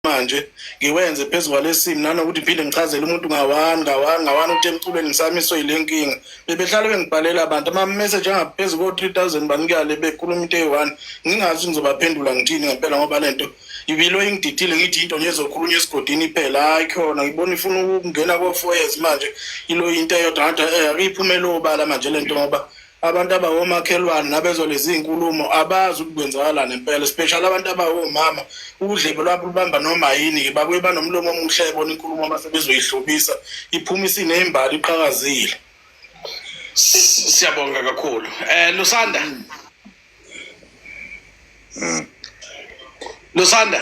manje ngiwenze phezu kwalesimo nanokuthi phinde ngichazele umuntu ngawani ngawani ngawani ukuthi emculweni ngisamiswe yile nkinga bebehlale bengibhalela abantu ama-message angaphezu ko-three thousand banikale bekhuluma into eyi-one ngingazi ngizobaphendula ngithini ngempela ngoba le nto ibilo ingididile ngithi into nje ezokhulunywa esigodini iphela hayi khona ngibona ifuna ukungena ko-four years manje ilo into eyodwa ngathi um eh, iphumele obala manje le nto ngoba abantu abawomakhelwane nabezwa lezi nkulumo abazi ukuthi kwenzakalani impela especially abantu abawomama udlebe lwabo lubamba noma yini-ke babuye banomlomo omuhle ebona inkulumo uma sebezoyihlobisa iphuma isineyimbali iqhakazile siyabonga kakhulu um lusanda hmm. lusanda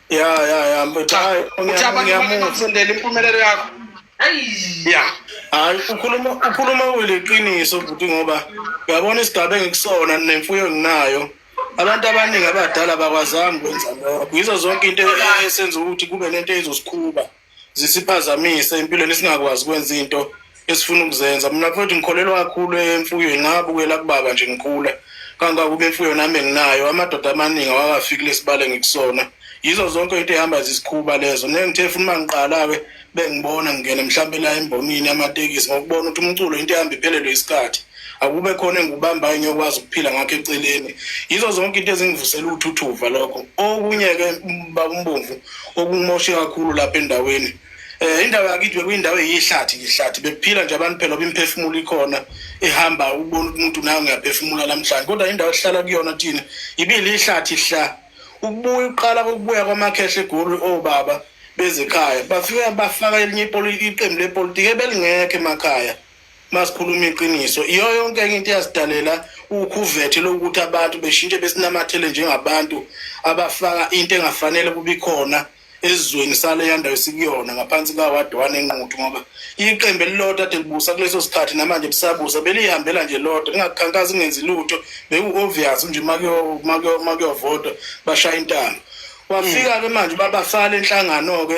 ya ya ya mfethu hayi Uthi abantu ngiyamuzwa bakungakusondela impumelelo yakho. Yeah. hayi ukhuluma ukhuluma uliqiniso bhuti ngoba uyabona isigaba engikusona nemfuyo enginayo abantu abaningi abadala abakwazanga ukwenza lokho yizo zonke into esenza ukuthi kube nento ezosikhuba zisiphazamise empilweni singakwazi kwenza into esifuna ukuzenza mina futhi ngikholelwa kakhulu emfuyweni ngabukela kubaba nje ngikhula kangakube imfuyo nami enginayo amadoda amaningi awakafiki kulesibale ngikusona yizo zonke into ehamba zisikhuba lezo nengithe futhi uma ngiqala-ke bengibona ngingene mhlawumbe la embonini amatekisi ngokubona ukuthi umculo into ehamba iphelelwe isikhathi akube khona engikubambayo ngiyokwazi ukuphila ngakho eceleni yizo zonke into ezingivusela uthuthuva lokho okunye-ke bakumbomvu okumoshe kakhulu lapha endaweni um indawo yakithi bekuyindawo eyihlathi ngihlathi bekuphila nje abantu phela oba imiphefumulo ikhona ihamba ukubona umuntu nayo ngiyaphefumula namhlanje kodwa indawo esihlala kuyona thina ibile ihlathi hla ukubuya uqala kokubuya kwamakhehle egoli obaba bezekhaya bafike bafaka elinye iqembu lepolitiki ebelingekho emakhaya masikhuluma iqiniso iyo yonke enye into eyasidalela ukhuvethe lokuthi abantu beshintshe besinamathele njengabantu abafaka into engafanele kubikhona ezweni sale yandawo sikuyona ngaphansi kaward one enquthu ngoba iqembu elilodwa ade libusa kuleso sikhathi namanje lisabusa beliyihambela nje lodwa lingakhankasi kungenzi lutho beku-obvious nje makuyovotwa bashaya intanga wafika-ke manje babasala enhlangano-ke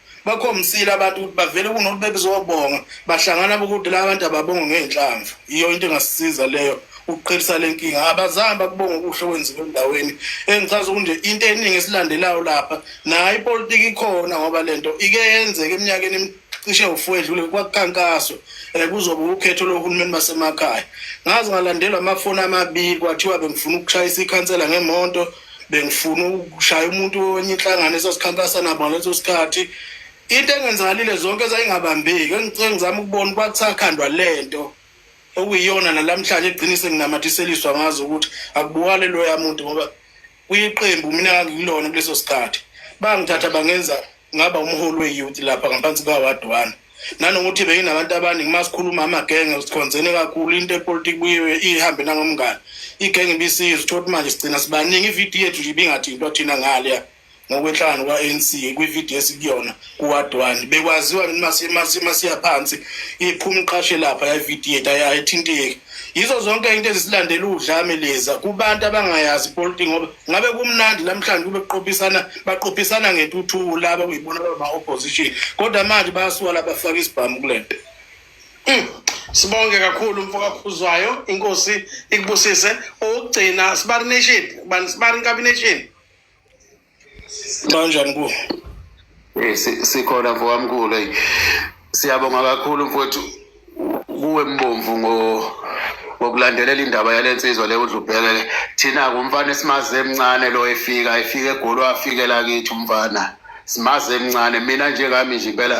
bakhombisile abantu ukuthi bavele kunokuthi bebezobonga bahlangana bokuthi la bantu ababonga ngey'nhlamvu yiyo into engasisiza leyo ukuqhelisa le nkinga abazange bakubonga okuhle okwenziwe endaweni engichaza ukunje into eningi esilandelayo lapha nayo ipolitiki ikhona ngoba le nto ike yenzeka eminyakeni cishe ufu edlule kwakukhankaswa um kuzoba ukhetho lohulumeni basemakhaya ngaze ngalandelwa amafoni amabili kwathiwa bengifuna ukushayisa ikhansela ngemonto bengifuna ukushaya umuntu wenye inhlangano esasikhankasa nabo ngaleso sikhathi into engenzakalile zonke zayingabambeki engicela ngizama ukubona kwakusakhandwa lento okuyiyona nalamhlanje eqinise nginamathiseliswa ngazo ukuthi akubuwale loya muntu ngoba kuyiqembu mina ngikulona kuleso sikhathi bangithatha bangenza ngaba umholi we-youth lapha ngaphansi kaward one nanokuthi beyinabantu abaningi uma sikhuluma amagenge sikhonzene kakhulu into epolitiki buyiwe ihambe nangomngane igenge ibisiza uthola ukuthi manje sigcina sibaningi ividiyo yethu nje ibingathi into thina ngaleya ngokwenhlangano kwa-anc kwividiyo esikuyona kuwadwani bekwaziwa masiya phansi iphuma iqashe lapha yavidiyo yethu ayithinteki yizo zonke into ezisilandela udlame leza kubantu abangayazi ipolitiki ngoba ngabe kumnandi namhlanje kube kuqophisana baqophisana ngentuthuko laba kuyibona baba opposition kodwa manje bayasuka labafaka isibhamu kulento hmm. sibonge kakhulu mfokakhuzwayo inkosi ikubusise okugcina sibari nation bani sibari nkabination kanjani ku Eh, sikhona mfokamkhulu eyi siyabonga kakhulu mfowethu kuwe mbomvu ngokulandelela indaba yale nsizwa le udlubhekele thina-ke umfana esimazi emncane lo efika efika egoli wafikela kithi umfana simazi emncane mina njengami nje impela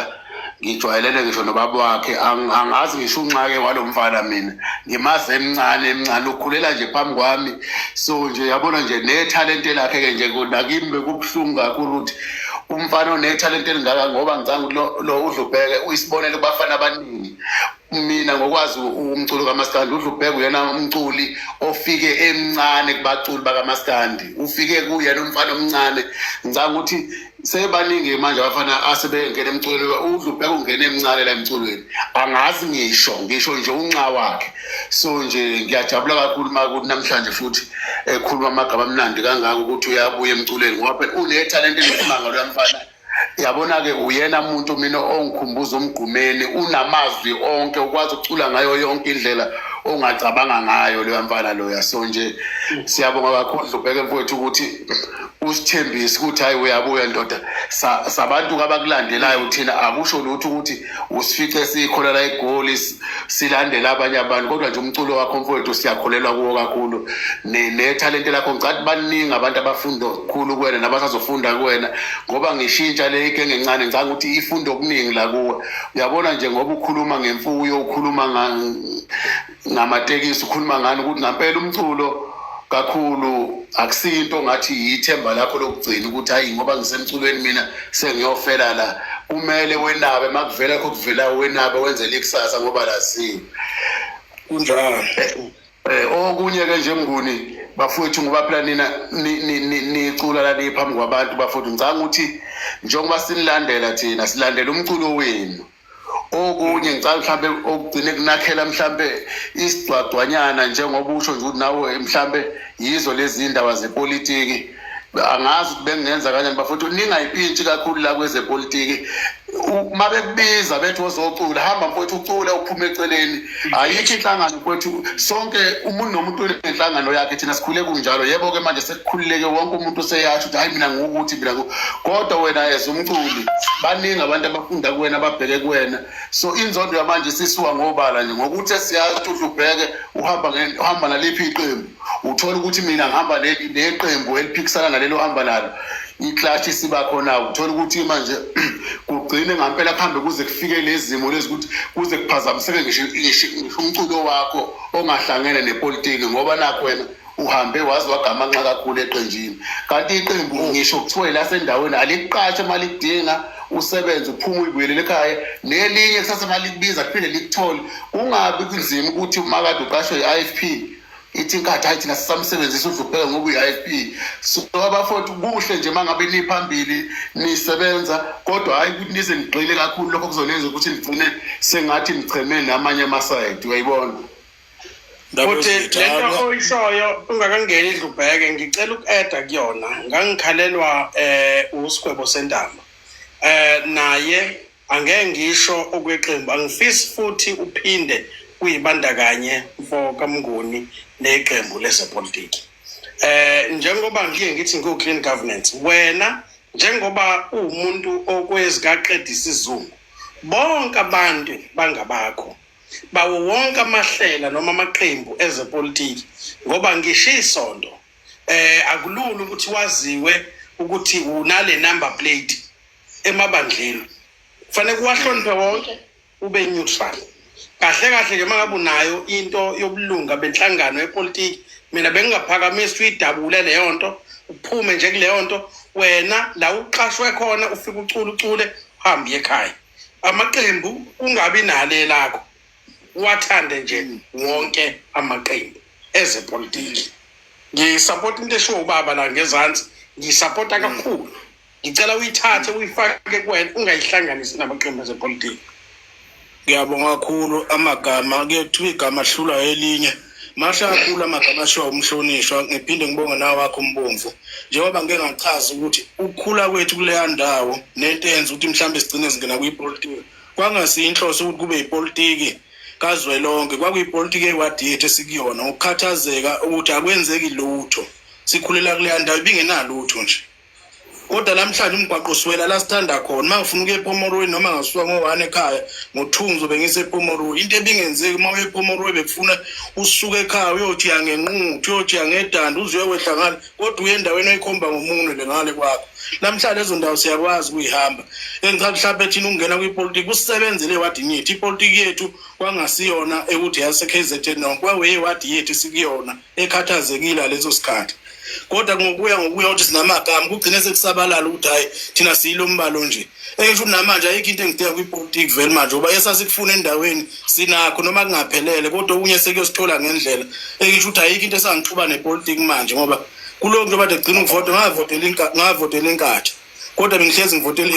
ngijwayelene ngisho nobaba wakhe angazi ngisho unxake walo mfana mina ngimazi emncane emncane ukhulela nje phambi kwami so nje yabona nje nethalente lakhe-ke nje nakimi bekubuhlungu kakhulu ukuthi umfana onethalente elingaka ngoba ngicanga ukuthi lo udlubheke uyisibonelo kubafana abaningi mina ngokwazi umculo kamaskandi udlubheke uyena umculi ofike emncane kubaculi bakamaskandi ufike kuyena umfana omncane ngicanga ukuthi sebaningi manje abafana asebengena emculweni udlubheke ungena emncane la emculweni angazi ngisho ngisho nje unxa wakhe so nje ngiyajabula kakhulu uma kuthi namhlanje futhi ekhuluma amagama amnandi kangako ukuthi uyabuya emculweni ngoba phela unethalente elisimanga loya mfana yabona-ke uyena muntu mina ongikhumbuza umgqumeni unamazwi onke ukwazi ukucula ngayo yonke indlela ongacabanga ngayo loya mfana loya so nje siyabonga kakhulu ubheke mfowethu ukuthi usithembise ukuthi hhayi uyabuya ndoda sabantu abakulandelayo thina akusho lutho ukuthi usifice sikholela egoli silandela abanye abantu kodwa nje umculo wakho mfowethu siyakholelwa kuwo kakhulu nethalente lakho ngicathi baningi abantu abafunda okukhulu kuwena nabasazofunda kuwena ngoba ngishintsha le ike ngencane ngicanga ukuthi ifunda okuningi la kuwe uyabona nje ngoba ukhuluma ngemfuyo ukhuluma ngamatekisi ukhuluma ngani ukuthi ngampela umculo kakhulu akusinto ngathi yithemba lakho lokugcina ukuthi hayi ngoba ngisemculweni mina sengiyofela la kumele wenabe makuvela kho kuvela wenabe wenzele ikusasa ngoba laziwe kunjalo eh, eh, okunye ke nje mnguni bafowethu ngoba phela nina nicula la niphambi kwabantu bafowethu ngicanga ukuthi njengoba sinilandela thina silandela umculo wenu okunye ngicabanga mhlambe okugcine kunakhela mhlambe isigcwagcwanyana njengoba usho nje ukuthi nawe mhlambe yizo lezi ndaba zepolitiki angazi ukuthi bengenza kanjani bafowethu ningayiphintshi kakhulu la kwezepolitiki uma bekubiza bethi wozocula hamba mfowethu ucule uphume eceleni ayikho inhlangano kwethu sonke umuntu nomuntu unenhlangano yakhe thina sikhule kunjalo yebo-ke manje sekukhululeke wonke umuntu useyasho ukuthi hhayi mina ngukuthi mina kodwa wena as umculi baningi abantu abafunda kuwena ababheke kuwena so inzondo yamanje sisuka ngobala nje ngokuthi esiyazi ukuthi udlubheke uhamba naliphi iqembu uthola ukuthi mina ngihamba neqembu eliphikisana nalelo hamba nalo iklashi siba khona uthola ukuthi manje kugcine ngampela kuhambe kuze kufike lezimo lezi ukuthi kuze kuphazamiseke ngisho umculo wakho ongahlangene nepolitiki ngoba nakho wena uhambe waze wagamanxa kakhulu eqenjini kanti iqembu ngisho kuthiwa elasendaweni alikuqashe uma lidinga usebenze uphuma uyibuyelele ekhaya nelinye kusase uma likubiza kuphinde likuthole kungabi kunzima ukuthi umakade uqashwe i-i f p ithi inkathi hayi thina sisamsebenzisa udlupheka ngoku IFP so abafowethu kuhle nje mangabe niphambili nisebenza kodwa hayi ukuthi nize nigxile kakhulu lokho kuzonenza ukuthi nigcine sengathi nicheme namanye amasayidi uyayibona futhi lento oyishoyo ungakangeni idlubheke ngicela uku-eda kuyona ngangikhalelwa um usigwebo sentamba um naye Angeke ngisho okweqembu angifisi futhi uphinde uyibandakanye mfo kaMnguni neqembu lezepolitiki. Eh njengoba ngiye ngithi ngiwu clean governance wena njengoba uwumuntu okwezikaqeda isizungu bonke abantu bangabakho bawo wonke amahlela noma amaqembu ezepolitiki ngoba ngisho isonto eh akulula ukuthi waziwe ukuthi unale number plate emabandleni kufanele kuwahloniphe wonke ube neutral kahle kahle ke mangabe unayo into yobulunga benhlangano yepolitiki mina bengingaphakamisi uyidabule leyo nto uphume nje kuleyo nto wena la uqashwe khona ufike ucula ucule uhambe ekhaya amaqembu kungabi nale lakho wathande nje wonke amaqembu ezepolitiki ngisapota into eshiwo ubaba la ngezansi ngisapota kakhulu mm. ngicela uyithathe uyifake kuwena ungayihlanganisi namaqembu azepolitiki ngiyabonga kakhulu amagama kuyothiwa igama ahlulwa elinye mahle kakhulu amagama ashiwa umhlonishwa ngiphinde ngibonge nawo wakho umbomvu njengoba ngike ngachaza ukuthi ukukhula kwethu kuleya ndawo nento eyenza ukuthi mhlawumbe sigcine singena kwipolitiki kwangasiyinhloso ukuthi kube yipolitiki kazwelonke kwakuyipolitiki eyiwadi yethu esikuyona ngokukhathazeka ukuthi akwenzeki lutho sikhulela kuleya ndawo ibingenalutho nje kodwa namhlanje umgwaqo usiwela la sithanda khona uma ngifuna ukuya epomoroyi noma ngasuka ngo-one ekhaya ngo-two ngizobe ngisepomoroyi into ebingenzeki uma uye epomoroyi bekufuna usuke ekhaya uyojiya ngenquthu uyojiya ngedanda uze uyowehla ngale kodwa uye endaweni oyikhomba ngomunwe le ngale kwakho namhlanje lezo ndawo siyakwazi ukuyihamba engicaba mhlawumbe thina ukungena kwipolitiki kusebenzele wadi ngithi ipolitiki yethu kwangasiyona ekuthi yase-k z n no kwaweye wadi yethu sikuyona ekhathazekile ngaleso sikhathi kodwa ngokuya ngokuya ukuthi sinamagama kugcine sekusabalala ukuthi hhayi thina siyilo mbalo nje engisho ukuthi namanje ayikho into engidinga kwipolitiki vele manje uba esasikufuna endaweni sinakho noma kungaphelele kodwa okunye sekuyosithola ngendlela engisho ukuthi ayikho into esangixuba nepolitiki manje ngoba kulowo nto bade gcina ukuvota ngavotela inkatha kodwa bengihlezi ngivotela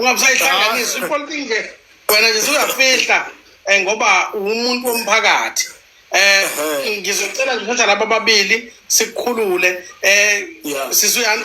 ungabusayihlanganisa ipolitiki nje wena nje suyafihla um ngoba uwumuntu womphakathi um ngizocela nje ukuthi laba babili sikukhulule um yeah. sisuyani